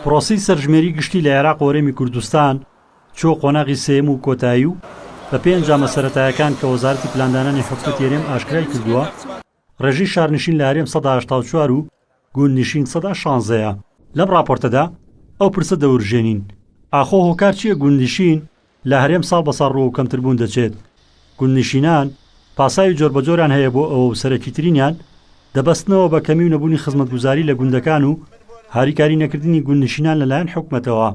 پرۆسەی سەرژمێری گشتی لە عێراق و هەرێمی کوردستان چووە قۆناغی سێیەم و کۆتایی و بە پێی ئەنجامە سەرەتایەکان کە وەزارەتی پلاندانانی حکومەتی هەرێم ئاشکرای کردووە، ڕێژەی شارنشین لە هەرێم سەدا هەشتا و چوار و گوندنشین سەدا شانزە یە. لەم ڕاپۆرتەدا ئەو پرسە دەورژێنین، ئاخۆ هۆکار چییە گوندنشین لە هەرێم ساڵ بە ساڵ ڕووەو کەمتر بوون دەچێت. گوندنشینان پاساوی جۆربەجۆریان هەیە بۆ ئەوە و سەرەکیترینیان دەبەستنەوە بە کەمی و نەبوونی خزمەتگوزاری لە گوندەکان و هاریکاری نەکردنی گوندنشینان لە لایەن حکومەتەوە.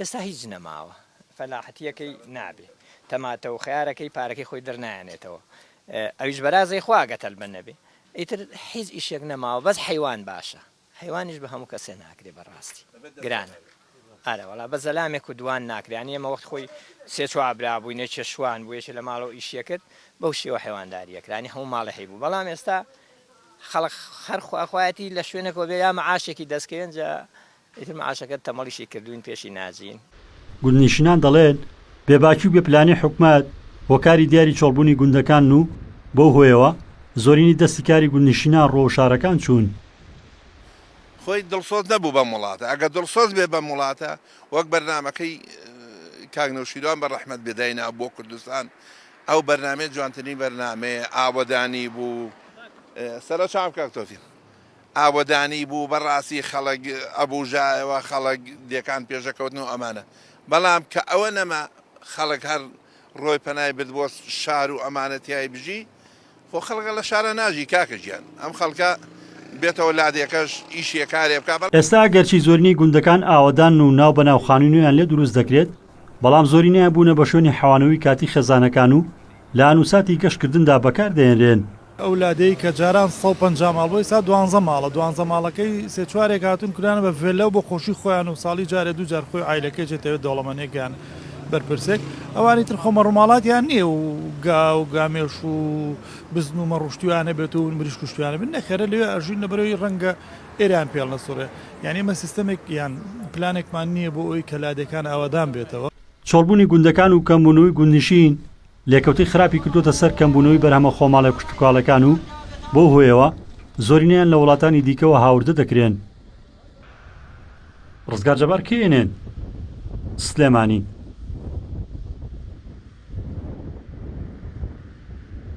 ئێستا هیچ نەماوە فەلاحەتیەکەی نابێ تەماتە و خەیارەکەی پارەکەی خۆی دەرنایەنێتەوە ئەویش بەرازەی خوا گەر تەلبە نەبێ ئیتر هیچ ئیشێک نەماوە بەس حەیوان باشە. حەیوانیش بە هەموو کەسێ ناکرێ بە ڕاستی گرانە ئارە وەڵا بە زەلامێک و دوان ناکرێ یانی ئێمە وەخت خۆی سێ چوار برا بووین یەکێ شوان بوو یەکێ لە ماڵەوە ئیشی ئەکرد بەو شێوە حەیوانداری ئەکرا یانی هەموو ماڵێ هەیبوو بەڵام ئێستا خەڵک هەر خوا خوایەتی لە شوێنێکەوە بێ یا مەعاشێکی دەست کەوێ ئینجا ئیتر مەعاشەکە تەمەڵیشی کردووین پێشی ناجین. گوندنیشنان دەڵێن، بێباکی و بێ پلانی حکومەت هۆکاری دیاری چۆڵبوونی گوندەکانن و بەو هۆیەوە زۆرینەی دەستی کاری گوندنشینان ڕۆ شارەکان چوون. خۆی دڵسۆز نەبوو بەم وڵاتە، ئەگەر دڵسۆز بێ بەم وڵاتە وەک بەرنامەکەی کاک نەوشیروان بە ڕەحمەت بێ داینابوو بۆ کوردستان، ئەو بەرنامەیە جوانترین بەرنامەیە ئاوەدانی بوو. سەرە چاو کاک تۆفیق. ئاوەدانی بوو بەڕاستی خەڵک ئەبوژایەوە خەڵک دێکان پێشەکەوتن و ئەمانە بەڵام کە ئەوە نەما خەڵک هەر ڕۆی پەنای برد بۆ شار و ئەمانە تیای بژی خۆ خەڵکە لە شارا ناژی کاکە گیان ئەم خەڵکە بێتەوە لادێکەش ئیشێ کارێ بکا بە. ئێستا ئەگەرچی زۆرینەی گوندەکان ئاوەدانن و ناو بەناو خانوی نوێیان لێ دروست دەکرێت بەڵام زۆرینەیان بوونە بە شوێنی حەوانەوی کاتی خێزانەکان و لە ئانوساتی گەشت کردندا بەکار دەهێنرێن ئەو لادێی کە جاران سەد و پەنجا ماڵ بوو ئیستا دوانزە ماڵە، دوانزە ماڵەکەی سێ چوارێک هاتوون کرانە بە ڤێلا و بۆ خۆشی خۆیان و ساڵی جارێ دوو جار خۆی و عایلەکەی جێ تەوێ دەوڵەمەنێک یان بەرپرسێک ئەوانی تر خۆ مەڕ و ماڵاتیان نیە و گا و گامێش و بزن و مەڕ و شتویان هەبێت و مریشک و شتویان هەبێت نەخێرە لەوێ ئەژین لە بەرەوەی ڕەنگە ئێرەیان پێڵ نەسوڕێ یانی ئێمە سیستەمێک یان پلانێکمان نیە بۆ ئەوەی کە لادێکان ئاوادان بێتەوە. چۆڵبوونی گوندەکان و کەمبوونووی گوندنشین لێکەوتەی خراپی کردووەتە سەر کەمبوونەوەی بەرهەمە خۆماڵە کشتوکاڵەکان و بەو هۆیەوە زۆرینەیان لە وڵاتانی دیکەوە هاوردە دەکرێن. ڕزگار جەبار کئنێن، سلێمانی.